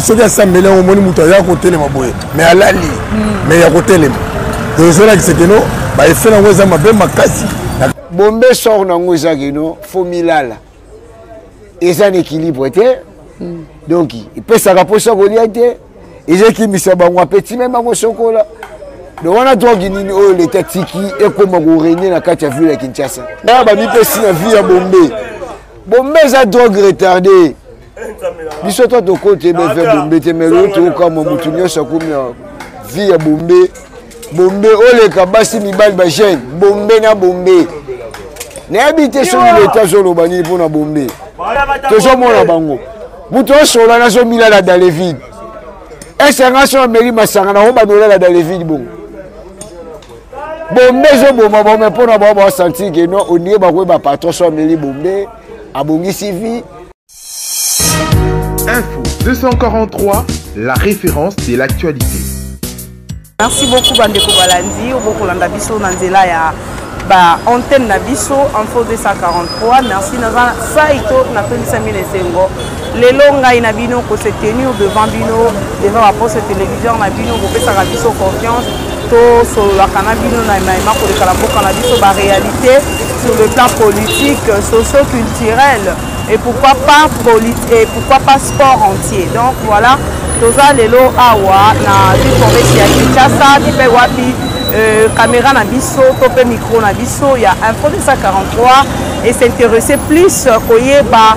soki asambeli yango omoni moto aya kotelema boye me alali hmm. me ya kotelema ezolakisa keno baefe nango eza mabe makasi bombe sor nango eza keno fo milala eza na équilibre te hmm. donc epesaka mposa kolia te eza ekimisa bango apeti me bango sokola donc wana drogue nini oyo leta tiki ekoma korenie na kati ya ville ya kinshasa na bamipesi na vie ya bombe bombe eza drogue retarde biso to tokote beve ya bombe te me lelo tokokamwa motu nyonso akomi ya vie ya bombe bombe oleka basi mibali bajeune bombe na bombe nayebi te soki leta azoloba nini mpo na bombe tozomona bango moto osola nazomilala dalevide esanga so ameli masanga nakobanolala dalevide bongo bombe ezoboma bome mpo na bao basantir ke no onie bakoyeba patron so ameli bombe abongisi vie info 243 la référence de l'actualité merci beaucoup bandeko balandi obokolanda biso na nzela ya ba antenne na biso info 243 merci naza saito napendisami na esengo lelo ngai na bino ko se tenir devant bino devant baposte télévision na bino kopesaka biso confiance tosololaka na bino na maima koleka na mboka na biso baréalité sur le plan politique socio-culturel et pourquoi pas et pourquoi pas sport entier donc voilà toza lelo awa na ville province ya kinshasa bipe wapi euh, caméra na biso to mpe micro na biso ya info 243 et s'intéresser plus koyeba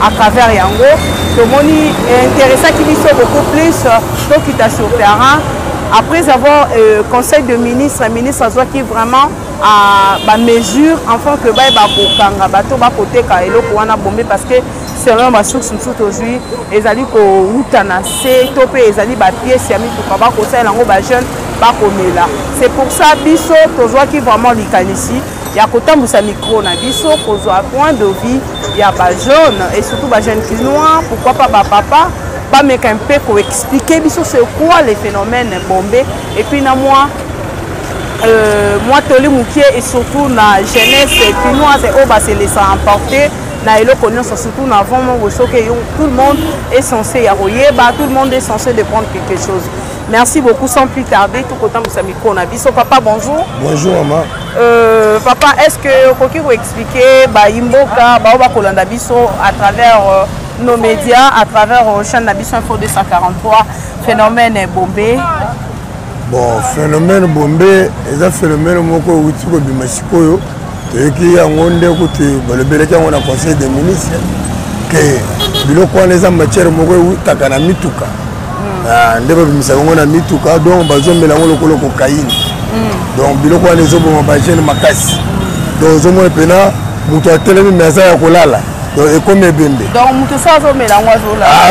à travers yango tomoni eh, interessaki biso beaucoup plus euh, tokita sur terrain après avoir euh, conseil de ministre ministre azwaki vraiment ah, bamesure enfin que baye bakokanga bato bakoteka eloko wana bombe parce que selon basource mosusu tozwi ezali kowuta na se to mpe ezali bapiese ya mituka bakosalela yango bajeune bakomela c'est pour ça biso tozwaki vraiment likanisi ya kotambwisa micro na biso kozwa point de vie ya bajeune et surtout bajeune kinois pourquoi pas bapapa bameka mpe koexplike biso c'est quoi les phénomènes bombe et puis na mwa euh, mwa toli mokie et surtout na jeunesse kinoise oyo baselesa emporte na eloko nyonso surtout na avant mongo soki eyo tout le monde est censé ya koyeba tout le monde est censé de prendre quelque chose merci beaucoup sans plus tarder tokotambwisa mikro na biso papa bonjour bonjour mama Euh, papa, est-ce que okoki ko expliquer ba imboka ba ba kolanda biso à travers euh, nos médias, à travers euh, chaîne na biso info 243 phénomène Bombay Bon, phénomène Bombay, eza phénomène moko outi ko bima sikoyo. Toyeki yango nde kuti balobelaki yango na conseil des ministres que biloko wana eza matière moko eutaka na mituka ah, nde babimisaka yango na mituka donc bazomela yango lokolo kokaine mm. donc biloko wana ezoboma bagene makasi donc ozomona mpena moto atelemi me aza ya kolala donc ekomi ebembe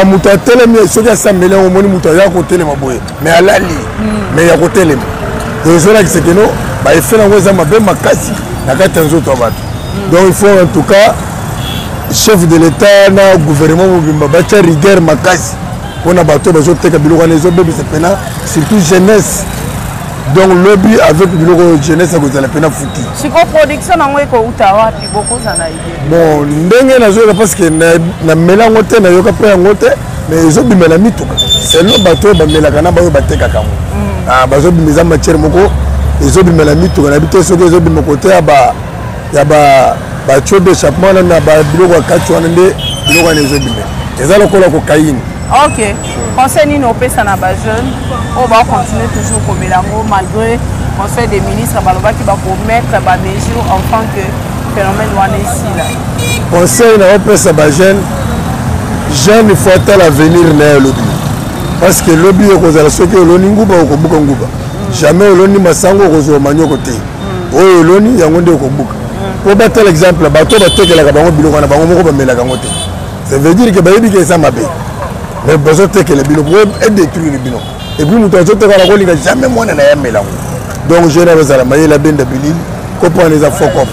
ah, moto atelemi soki asambeli yango omoni moto aza kotelema boye me alali me mm. ya kotelema donc ezolakisa keno baefe na yango eza mabe makasi na kati ya nzoto ya bato mm. donc il faut en tout cas chef de l'etat na gouvernement mobimba batya rigueur makasi mpona bato oyo bazoteka biloko wana ezobebisa mpena surtout jeunesse donc lobi avec biloko oyo jeunesse akozala mpena futi siko production yango ekouta wapi bokozala bon ndenge nazoyoka parce que namela yango te nayoka mpe yango te mais ezobimela mituka selon bato oyo bamelaka na baoyo batekaka yango mm. ah, bazobima eza matière moko ezobimela mituka na bite soki ezobima kote ya ba ya batio ba d'échappement wana na babiloko ya kati wana nde biloko wana ezobima eza lokola kokaini ok conseil nini opesa na bajeune oyo bacontinue toujours komela yango malgré conseil des ministres balobaki bakomettre bamesure enfant que phénomène wana esila conseil na opesa bajeune jeune il faut atala avenir na ye lobi parce que lobi okozala soki oloni nguba okobuka nguba jamais oloni masango okozwa manioko te oyo oloni yango nde okobuka po batala exemple bato batekelaka bango biloko na bango moko bamelaka yango te ça veut dire ke bayebi ke eza mabe mais bazotekela bino po edétruire bino epuis moto azoteka na kolinga jamais mwana na ye amela yango donc jeune azala mayele abenda bilili kopo wana eza fokop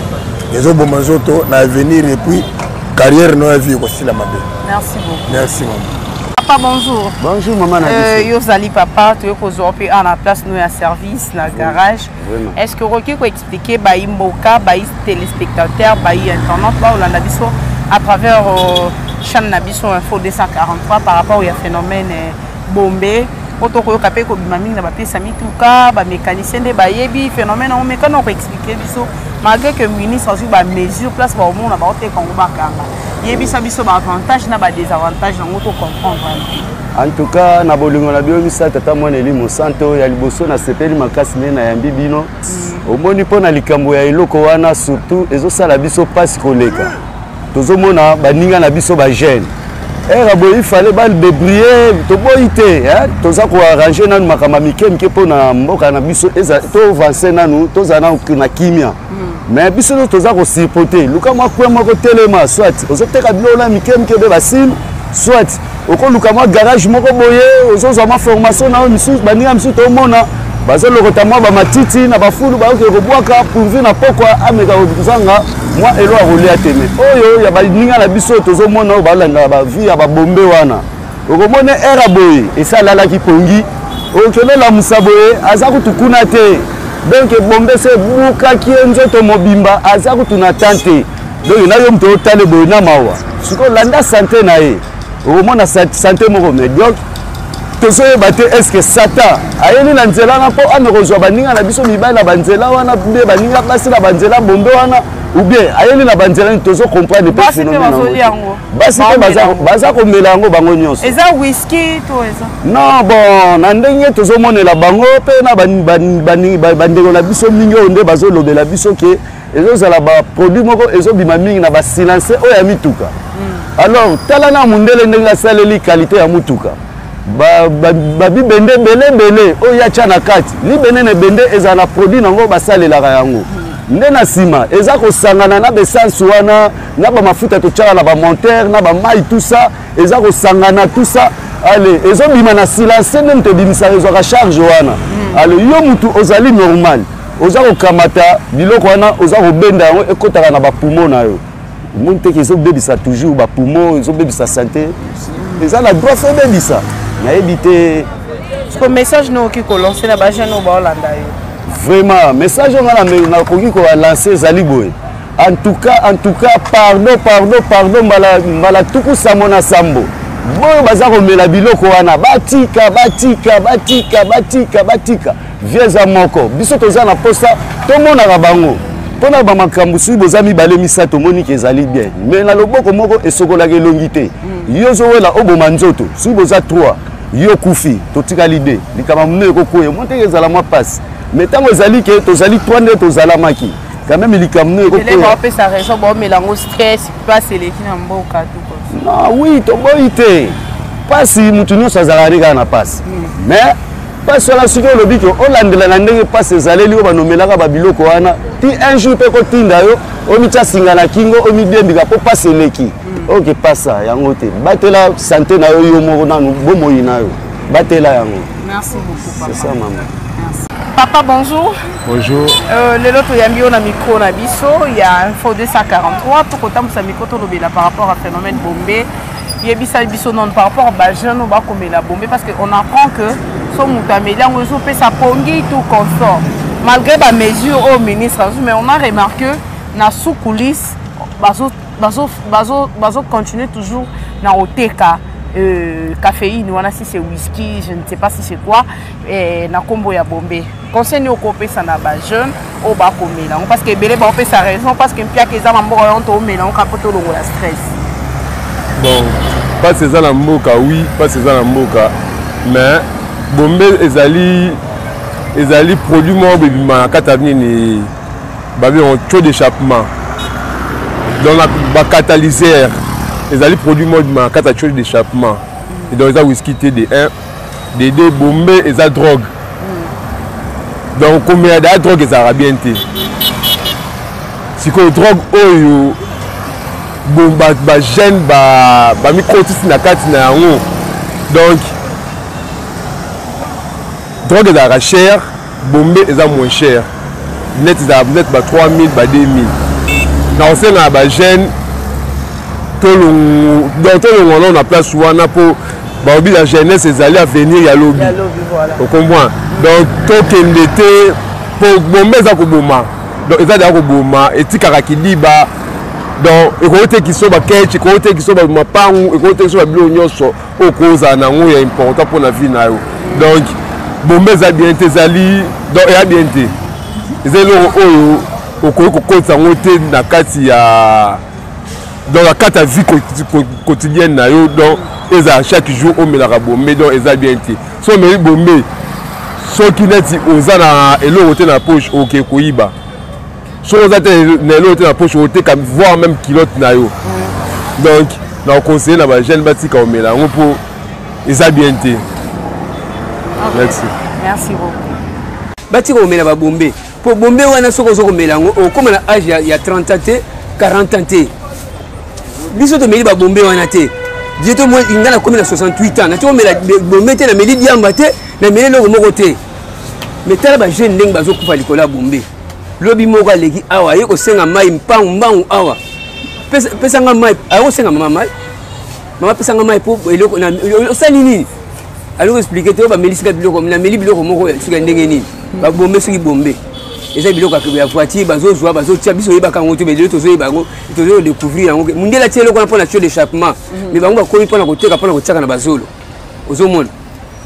ezoboma nzoto na avenir epuis carrière no ya vie ekosila mabe merci beaucoup merci mama papa bonjour bonjour mama na euh, biso yo ozali papa toye kozwa mpe awa na place no ya service na garage est ce que okoki ko expliquer bayi mboka bayi téléspectateur bayi internet baolanda biso à travers euh, chaîne na biso info 243 par rapport ya phénomène euh, bombe po tokoyoka mpe kobima mingi na bapesa mituka bamécanicien nde bayebi phénomène yango mekana okoexplike biso malgré que ministre azwi bamesure place baomona baoteka yango bakanga yebisa biso baavantage na badésavantage yango tocomprendre En tout cas, na bolingo na bino misato tata mwana elimo santo ya liboso nasepeli makasi nde nayambi bino mm. omoni mpo na likambo ya eloko wana surtout ezosala biso mpasi koleka tozomona baninga na biso bajeune ere eh, boye ifale badebrie toboyi te toza koarrange nanu makambo ya mike mike mpo na mboka na biso tovanse nanu tozala nanu na kimia mm. mais biso nyonso toza kosirpote luka mwa kwe moko telema soit ozoteka biloko na mike mike mpe basile soit okoluka mwa garage moko boye ozozwa mwa formation na yo misusu baninga misusu tomona bazolokota mwa bamatiti na bafulu bayoki kobwaka pourvu na pokwa ameka kozanga mwa elo ya kolia te me oyo ya baninga na biso tozomona oyo balandaka bavie ya babombe wana okomona era boye esalalaki pongi okende lamusa boye aza kutu kuna te donk ebombe se ebukaki ye nzoto mobimba aza kutu na tan te donc na yo moto otale boye na mawa sikoyo landa sante na ye okomona sante moko mediocre tozoyeba te estce satan ayeli na nzela wana mpo ame kozwa baninga na biso mibali na banzela wana be baninga basi na banzela bombe wana ou bien ayeli na banzela nini tozo comprendre mpe phénomène yango basi mpe baza komela yango bango nyonso eza whisky to eza non bon na ndenge tozomonela bango mpe na bandeko na biso mingi oyo nde bazolobela biso ke ezozala ba produit moko ezobima mingi na ba silencer oyo ya mituka hmm. alors tala na mundele ndenge asaleli qualité ya mutuka babibende ba, ba ebele ebele oyo ya tya na kati libende na ebende ezala na produit na yango basalelaka yango hmm. nde na nsima eza kosangana na baessence wana na bamafuta totyaka na bamontere na bamai tout ça eza kosangana tout ça ale ezobima na silence nde moto ebimisaka ezwaka charge wana hmm. ale yo motu ozali normal oza kokamata biloko wana oza kobenda yango ekotaka na bapumo na yo omoni teke ezobebisa toujours bapumo ezobebisa sante eza na droit fo ebebisa nayebi te siko message no okoki kolanse na bajeune oyo baolanda yo vraiment message oyo ngai nakoki kolanse ezali boye en tout cas en tout cas pardon pardon pardon mbala, mbala tuku sambo na sambo boyo baza komela biloko wana batika batika batika batika batika vie eza moko biso toza na posa tomonaka bango mpo na bamakambo soki boza mibale misato omoni ke ezali bien me na loboko moko esokolaka elongi te mm. yo ozowela oboma nzoto soki boza 3 yo kufi totikali de likambo mino ekokwea mwa ndenge ezala mwa mpasi me ntango ezali ke tozali 3 nde tozalamaki quand même likambo nini ekokoyaopesa raison baomela yango stress mpasi eleki na mboka na wi toboyi te mpasi moto nyonso azalaka nde kaka na mpasi mais mpasi wana soki olobi ke olandela na ndenge mpasi ezaleli oyo banomelaka babiloko wana ti un jour mpe kotinda yo omitya singa na kingo omidembika mpo mpasi eleki mm. oke okay, pasa yango te batela sante na yo yo moko nanu bomoi na yo batela yango merci beaucoup papa. ça mama merci. papa bonjour bonjour euh, lelo toyambi yo na micro na biso ya info 243 tokotambusa micro tolobela par rapport à phénomène bombe yebisa biso nanu par rapport ba jeune oyo bakomela bombe parce que on apprend que so moto ameli yango ezopesa pongi tout consort malgré ba mesure oyo ministre azwi mais on a remarqué na sous coulisse bazo bazo bazo bazo continuer toujours na koteka euh, caféine wana si c'est whisky je ne sais pas si c'est quoi eh, na kombo ya bombe conseil nini okopesa na bajeune oyo bakomela yango parce que ebele baopesa raison parce que mpiaka eza na mboka yango toomela yango kaka mpo tolongola stress bon mpasi eza na mboka wi mpasi eza na mboka mais bombe ezali ezali produit moko bebima na kati ya nini babengo taux d'échappement donc bacatalysaire ezali produit moko bebima na kati ya taux d'échappement donc eza wiski te de 1 dede bombe eza drogue mm. donc komela daya drogue ezalaka bien te sikoyo drogue oyo bajeune bamikotisi na kati na yango donc drogue ezalaka chere bombe eza moins cher net ezala net ba 3000 ba 2000 na kosenga ya bajeune donc tolongwa nao na place wana mpo balobi la jeunesse ezali avenir ya lobi okomprend donc tokende te mpo bombe eza koboma donc eza deya koboma etikaka kidiba donc ekoki te kisoba keche ekoki te kisoba mapangu ekoki te kisoba biloko nyonso oyo kozala na yango ya important mpo na vie na yo donc bombe eza bien te ezali donc eya bien te eza eloko oyo okoki kokotisa yango te na kati ya donc na kati ya vie quotidienne na yo donc ezala chaque jour omelaka bombe donc eza bien te so omeli bombe soki neti oza na eloko te na poche oke koyiba soki oza te na eloko te na poche oteka voir même kilote na yo donc na oconseille na bajeune batika omela yango mpo eza bien te merci merci beaucoup batika omela babombe mpo bombe wana soki oza komela yango okóma na age ya 30 ans te 40 ans te biso tomeli babombe wana te je to moi inga nakomi na 68 ans nati komela bombe te nameli diamba te nameli eloko moko te mais tala bajeune ndenge bazokufa likolo ya bombe lobi moko aleki awa aye kosenga mai mpangu mbangu awa pesa nga mai aye kosenga mama mai mama pesa nga mai mpo eloko osali nini aloko explike te oyo bamelisi nga biloko nameli biloko moko soki ya ndenge nini babombe soki bombe eza biloko ya voiture bazozwa bazotia biso oyebaka yango te mais lelo tozoyeba yango tozo découvrir yango mondele atia eloko wana mpo na tio d'échappement mais mhm. bango bakomi mpo na koteka mpo na kotiaka na bazolo ozomona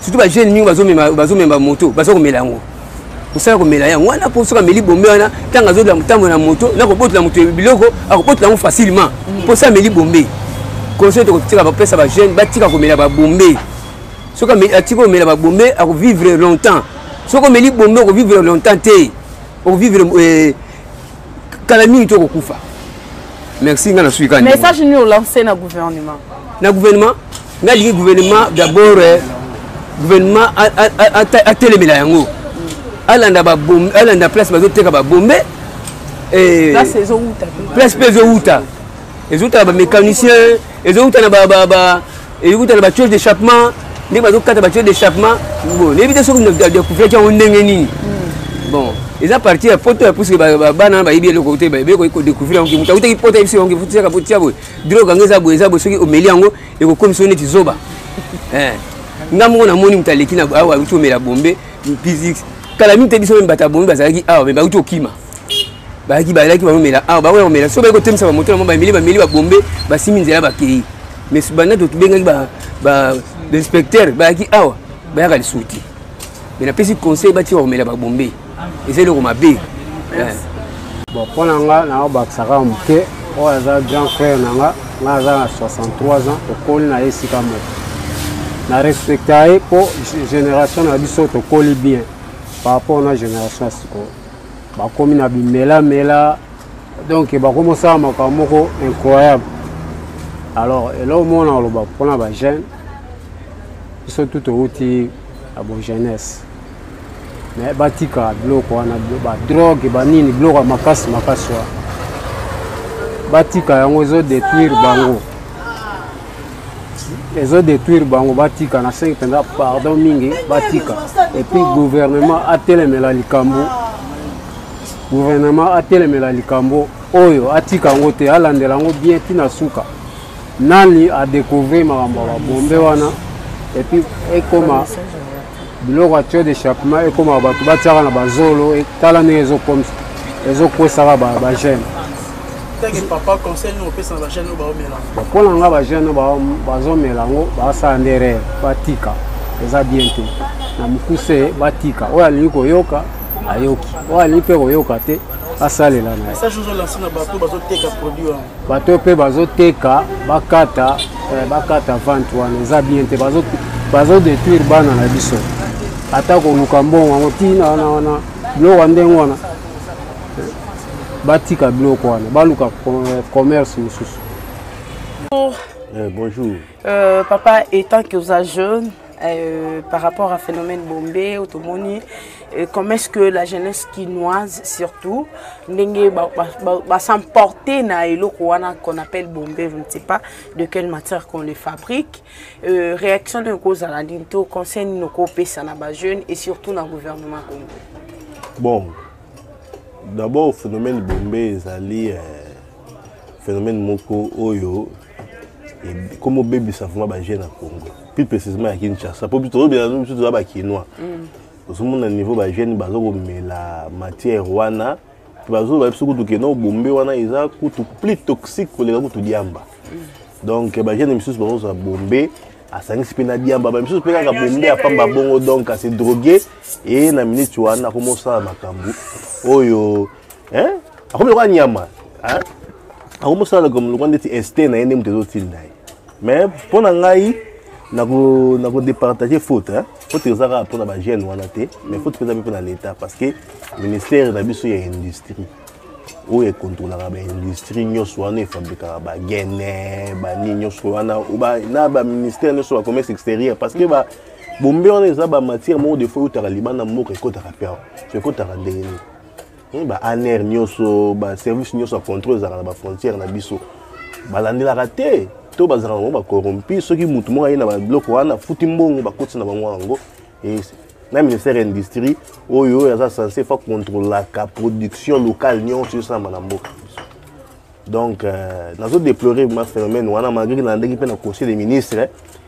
surtout ba jeune mingi bazo mema bazo mema moto bazo komela yango osala komela yango wana mpo soki ameli bombe wana ntango azodela motambo na moto na kobotola moto biloko akobotola yango facilement mpo soki ameli bombe conseil tokotika bapesa bajeune batika komela babombe soki atiki komela babombe akovivre longtemps soki omeli bombe okovivre longtemps te okovivre eh, kala mingi to kokufa merci nga na suika message ni olancer na gouvernement na gouvernement nga lingi gouvernement d'abord eh, gouvernement atelemela yango alanda babombe alanda place bazoteka babombe eh, place mpe ezowuta ezowuta na bamécanicien ezowuta na elingi kotala batiole d'échappement ndenge bazokata batiole d'échappement bon nayebi te soki decouvriraki yango ndenge nini bon eza parti ya poto ya puisque bana bayebi eloko te bayebi ekoki kodécouvrir yango moto akutaki poto ayebisi yango fotiaka botia boye drogue yango eza boye eza boye soki omeli yango ekokomisa yo neti zoba eh. nga moko namoni moto aleki na awa auti omela bombe physique kala mingi te biso meme bato ya bombe bazalaki awa me bauti okima bayaki bayaki bamomela awa bakoya komela so bayi kotemisa bamoto na bango bameli bameli babombe basimi nzela bakei mais banda tobengaki bainspecteur bayaki awa bayaka lisusu te mais napesi conseil batika komela babombe eza eloko mabe bon mpo na nga nakobakisaka moke oyo aza grand frère na nga nga aza na 63 ans tokoli na ye esika moko na respecta ye mpo génération na biso tokoli bien par rapport na génération ya sikoyo bakomi na bimelamela donc bakomi osala makambo moko incroyable alors eloko moko na oloba mpona bajeune biso tu towuti na bojeunesse me batika biloko wana badrogue banini biloko ya makasi makasi wana batika yango ezodetruire bango ezo détruire bango batika na sengi mpenza pardon mingi batika epuis gouvernement atelemela likambo gouvernement atelemela likambo oyo atika yango te alandela yango bien ti na suka nani adecouvrir makambo ya babombe wana epuis ekoma biloko ya tuyau d'échappement ekoma bato batiaka na bazolo e, tala ndenge ezokomisa ezokwesaka bagene mpo na nga bagene bazomela yango basala nde rere batika eza bien te na mokuse batika oyo alingi koyoka ayoki oyo alingi mpe koyoka te asalela na ye bato oyo mpe bazoteka bakata eh, bakata vente wana eza bien te bazodetruire bana na biso ata koluka mbongo yango ntina wana wana biloko ya ndenge wana eh, batika biloko wana baluka eh, commerce mosusu bonjour euh, papa etant que oza jeune Euh, par rapport à phénomène bombé otomoni euh, comment est-ce que la jeunesse kinoise surtout ndenge basemporte na eloko wana qu'on appelle bombé je ne sais pas de quelle matière qu'on les fabrique euh, réaction de ekozala nini to conseil nini okopesa na bajeune et surtout na gouvernement congo bon d'abord phénomène bombé ezali euh, phénomène moko oyo comme obebisa vraiment bajeune ya congo plus précisement ya kinshasa mpo tozobela biso toza bakinois mm. ozomona niveau bajeune baza komela matière wana mpe bazoloba biso kutu kena obombe wana eza kutu plus toxique koleka kutu diamba mm. donc bajeune misusu bazozwa bombe asangisi mpe na diamba bamisusu mpe kaka bombe apamba bongo donc ase drogue eye na minute wana akomosala makambo oyo hein akomi lokola nyama hein akomi osala lokola ndeti este na ye nde moto ezotinda ye mais mpo na ngai nakodepartage faute hein? faute eza kaka mpo na bagene wana te mais faute eza mpe mpo na l'état parce que ministère na biso ya industrie oyo ekontrolaka baindustrie nyonso wana efabrikaka bagene banini nyonso wana na baministère nyonso ya commerce extérieur parce que ba bombe wana eza bamatière moko defo eutaka libanda mboka ekotaka mpe awa so ekotaka ndenge nini Hmm, ba aner nyonso ba service nyonso ya contrôle ezalaka na ba frontière na biso balandelaka te to bazalaka bango bacorrompi soki motu moko aye na babiloko wana afuti mbongo bakotisa na bango yango na ministère ya industrie oyo oyo aza sense fa contrôlaka production locale nyonso esalama na mboka donc euh, nazo déplorer ma phénomène wana malgré nalandaki mpe na conseil des ministres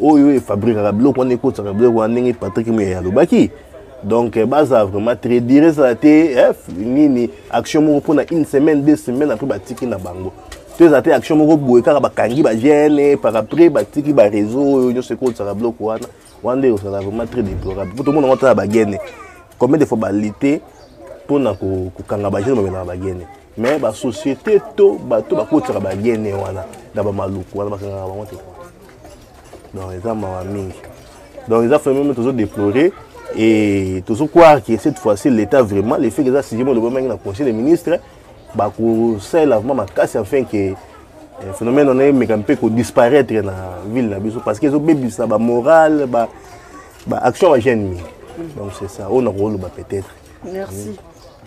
oyo efabrikaka biloko wana ekotisaka biloko wana ndenge patrik muyaya alobaki donc eh, baza vraiment très dire ezala te eh, nini action moko mpona une semaine deux semaine après batiki na bango to ezala te action moko boye kaka bakangi bagene par après batiki bareseau oyo nyonso ekotisaka biloko wana wana nde ozala vraiment très déplorable mpo tomona ngo ata na bagene combien de fois balite mpona kokanga bagene bamelaka bagene mais ba société to bato bakotisaka bagene wana na bamaluku wana bakangaka bango te donc eza mawa mingi donc eza fameme tozo déplorer et tozo croire que cette fois-ci l'état vraiment le fait que eza sujet molobamaki na conseil des ministres bakosalela vraiment makasi afin que eh, phénomène wana emeka mpe kodisparaître na ville na biso parce que ezobebisa bamorale ba, ba action ya jeune mingi donc c'est ça oyo nakoloba peut-être merci mm.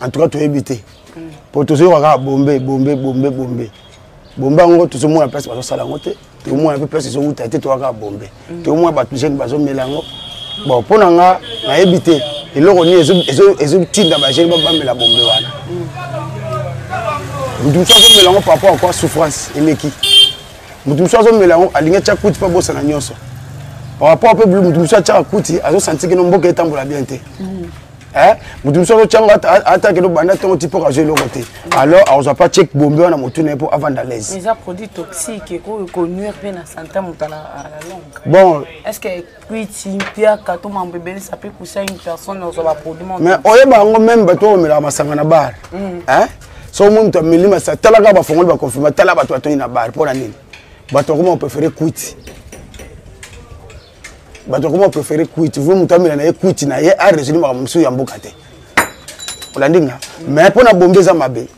en tout cas toyebi te mpo tozoyoka kaka bombe bombe bombe bombe bombe yango tozomona place bazosala yango te tokomona mpe place ezowuta te toyaka bombe mm. tokomona bato jeune bazomela yango bon mpo na nga nayebi te eloko nini ezotinda bajeune bamela bombe wana moto mm. mosusu azomela yango par rapport akwa souffrance eleki moto mosusu azomela yango alingi atya kuti mpo abosana nyonso par rapport mpe moto mosusu atyaka kuti azosantikino mboka etambola bien te mm. Eh, mutu mosusu azotyango atake lobanda ntongo ti mpoka azwi eloko te alors akozwa mpa chek bombe wana motu na ye mpo avanda laise eza produit toxique ekoki konuire mpe na sante moto ala longue bon est ce que kwiti mpiaka to mambo ebelisa mpe kusa une personne ozwa baproduit mais oyeba yango meme bato oyo omelaka masanga na bar mm. eh? so omoni moto ameli masa talaka bafongoli baconfirma tala bato batoni na bar mpo na nini bato akoma opréféré kwiti bato akoma préféré kuiti vue moto amela na ye kuiti na ye aresoli makambo mosusu ya mboka te olandi nga mais mpo na bombe eza mabe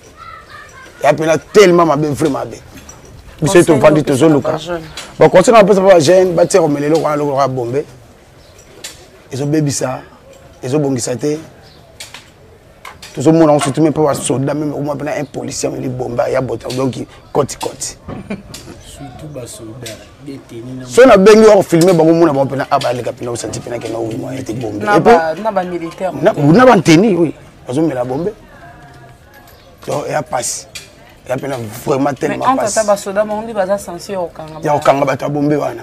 ya mpena tellement mabe vrai mabe biso ye tovandi tozoluka baconseil na bapesa mpe bajeune batia komela eloko wana eloko ya bombe ezobebisa ezobongisa te tozomona yango surtout mpe basoda meme okoma mpe na un policier meli bomba ya bota donc koti koti so nabengi wako filme bango mona bango mpena a baleka mpena osanti mpena kena owi moyen te bombe na banteni oyo bazomela bombe donc eya mpasi ya mpena vraiment tellement pasi ya kokanga bato ya bombe wana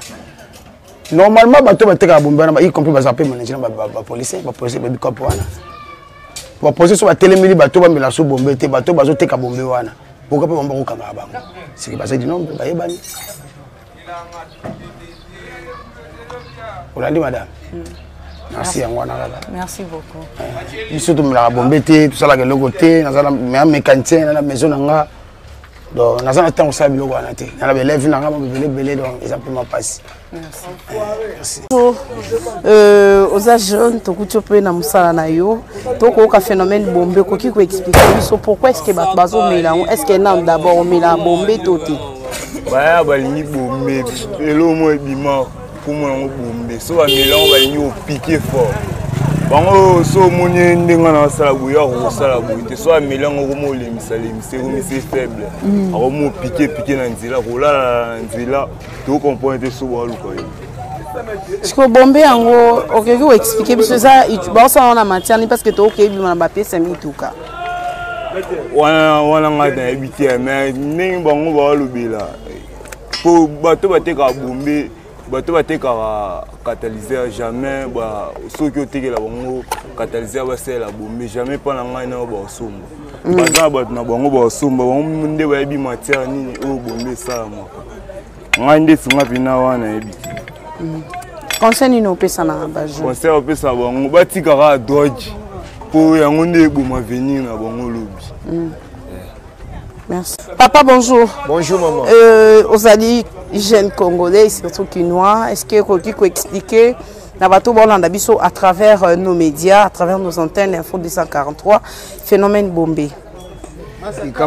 normalement bato batekaka bombe wana y compris baza mpe managina bapolisier bapolisier babikopo wana bapolisier so batelemeli bato bamela so bombe te bato bazoteka bombe wana boka mpe bango bakokangaka bango siki bazali nombre bayebani olandi madame mm. merci yango wana kaka merci beaucoup eh, biso tomelaka bombe te tosalaka eloko te naza na mécanicien na na maison na nga donc naza na ntango osala biloko wana te na na baelève na nga babebele ebele donc eza mpe mapasi euh, oza jeune tokuti mpe na mosala na yo tokoyoka phénomène bombe okoki koexplike biso pourquoi est ce que bato bazomela yango est ce que nano d'abord omela bombe to te baya balingi bombe elo mo ebima komona yango bombe so bamela yango balingi opike fort bango so omoni ye ndenge wana asala boye yo akokosala boye te so ameli yango okoma olemisalemisa ekomisi faible mm. akoma opike pike na nzela kolalala na nzela tokokomprone te so baluka ye sikoyo bombe yango okoki koexplike biso eza baosala wana matière nini parce que tokoki koyebima na bapiese ya mituka wana wana ngai nayebi te mais ndenge bango bawalobela mpo bato batekaka bombe bato batekaka catalyseur jamais soki otekela bango catalyseur basalela bombe jamais mpo na ngai nayo baosomba mm. baza na bato na bango baosomba bango nde bayebi matière nini oyo bombe esalamaka ngai nde sunga mpena wana yebi mm. conseil nini opesa na bajour conseil opesa bango batika kaka droge mpo yango nde eboma venir na bango lobi mm. Merci. Papa, bonjour. Bonjour, maman. Euh, Ozali, jeune Congolais, surtout Kinois, est-ce que Rocky peut expliquer na bato bolanda biso à travers euh, nos médias à travers nos antennes info 243 phénomène bombé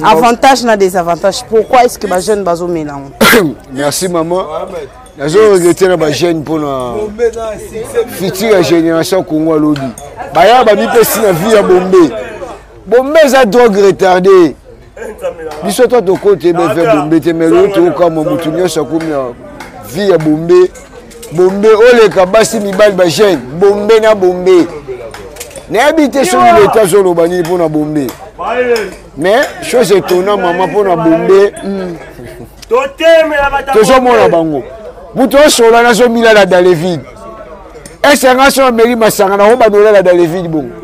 avantage na désavantage pourquoi est ce que bajeune bazomela yango merci maman nazo regrete na bajeune mpona futur ya génération congo alobi baya bamipesi na vie ya bombe bombe eza drogue retarde biso to tokoti ebeve bombe te mais loyo toyokamwa motu nyonso akomi na vie ya bombe bombe oleka basi mibali ba jeune bombe na bombe nayebi te soki leta azoloba nini mpo na bombe mais chose etona mama mpo na bombe hmm. tozomona bango moto osola nazomila na dalevide esanga so ameli masanga na obanola na dalevide bongo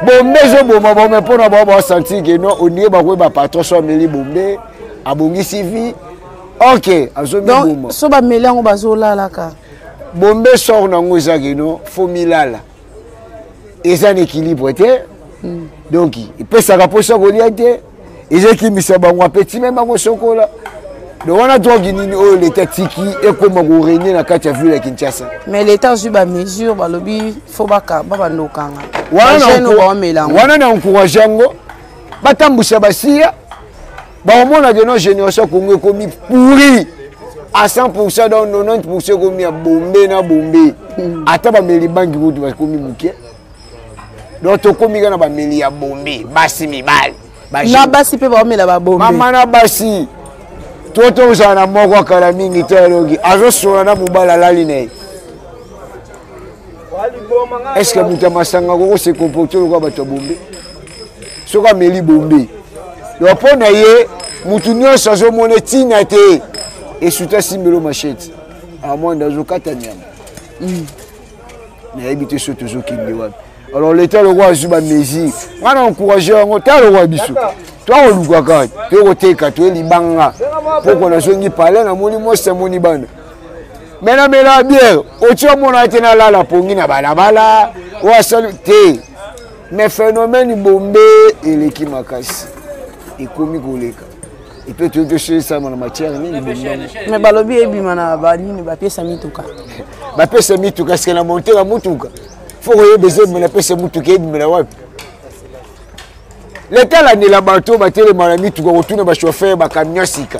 bombe ezoboma bango me mpo na bango basanti ke no onie bakoyeba patron so ameli bombe abongisi vie ok azomiboma so bameli yango bazolalaka bombe sor na yango eza kino fo milala eza na équilibre te hmm. donc epesaka mposa kolia te eza ekimisa bango apeti me bango sokola donc wana drogue nini oyo leta tiki ekoma korenie na kati ya ville ya kinshasa mais leta azwi bamesure balobi fo bakamba bandokanga wana na encourage yango batambwisa basiya bakomona ke no génération ya congo ekomi pourri à 100 pourcent donc 90 pourcent ekomi ya bombe na bombe hmm. ata bameli bangi kutu bakomi moke donc tokomi kaka na bameli ya bombe basi mibali na basi mpe baomela babombe mama na basi to tozala na moko akala mingi te aloki azosola na mobali alali na ye est ce que moto ya masanga koko se comporte lokola bato ya bombe soki ameli bombe donc mpo na ye motu nyonso azomona ntina te esuta asimbelo machete amwanda azokata nyama mm. nayebi te so tozokende wapi alors leta lokola azwi bamesure ngai na encourage yango ta lokola biso toakolukaka toyokoteka toye libanga mpoko nazongi pale namoni mwasi amoni bana me namelaka biere oci omonaka te nalala pongi na balabala oyo asali te me phénomène bombe eleki makasi ekomi koleka epe toyei toselisama na matière nini me balobi ebima na banini bapesa mituka bapesa mituka sike na monteka motuka fo koyeba eza ebima napesa motuka ebimela wapi leta alandela bato batelema na mituka kotuna bachauffeur bacamion sika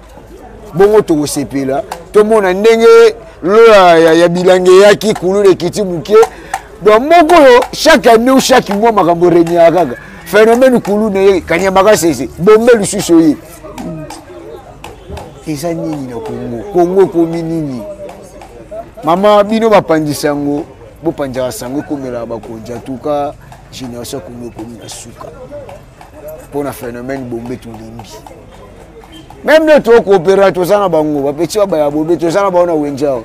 bongo tokosepela tomona ndenge lola ya, ya bilange eyaki kuluna ekiti moke donc moko oyo chaque année ou chaque mois makambo renyaka kaka phénomène kuluna ye kanyama kasese bombe lisusu oye eza nini na kongo kongo ekomi nini mama bino bapanzi sango bopanzaka sango ekomelaka bakonzi atuka génération kongo ekomi na suka mpo na phénomène bombe tolembi meme nde tokoopera toza na bango bapeti baba ya bombe toza na bango na wenze awa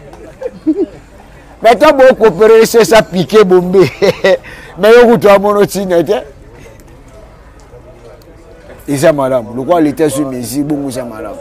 me ta bokoopera esi esa pike bombe me yo kutu amono ntina te eza malamu lokola leta ezwi mesure bongo eza malamu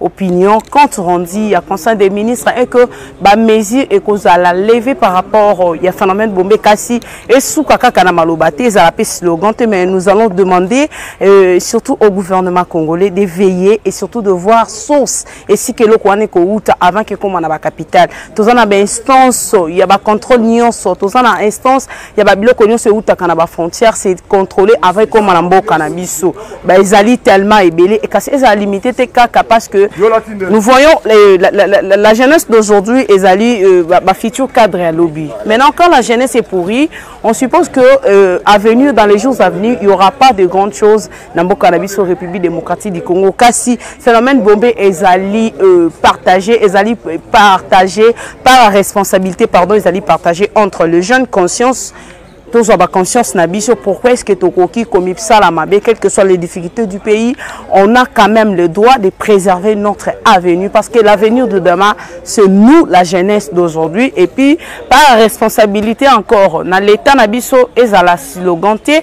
opinion compte rendu ya conseil des ministres est que ba mesure ekozala levée par rapport ya phénomène bombe kasi esuka kaka na maloba te ezala pe slogan te mais nous allons demander euh, surtout au gouvernement congolais de veiller et surtout de voir source esika eloko wana ekowuta avant kekoma na ba capitale toza na ba instance ya ba contrôle nyonso toza na instance ya babiloko nyonso eutaka na bafrontière se contrôle avant ekóma na mboka na biso ba ezali tellement ebele kasi ezala limité te kaka parce que nous voyons euh, la, la, la, la jeunesse d'aujourd'hui ezali euh, bafutur cadre ya lobi maintenant quand la jeunesse est pourrie on suppose que euh, avenir dans les jours à venir il y aura pas de grandes choses na mboka na biso république démocratique du congo kasi phénomène bombe ezali euh, partagé ezali euh, partagé par la responsabilité pardon ezali partagé entre le jeune conscience tozwa baconscience na biso pourquoi est ce que tokoki komibsala mabe quelles que soient les difficultés du pays on a quand même le droit de préserver notre avenue parce que l'avenir de demain c'est nous la jeunesse d'aujourd'hui et puis par responsabilité encore na l'état na biso ezala slogan te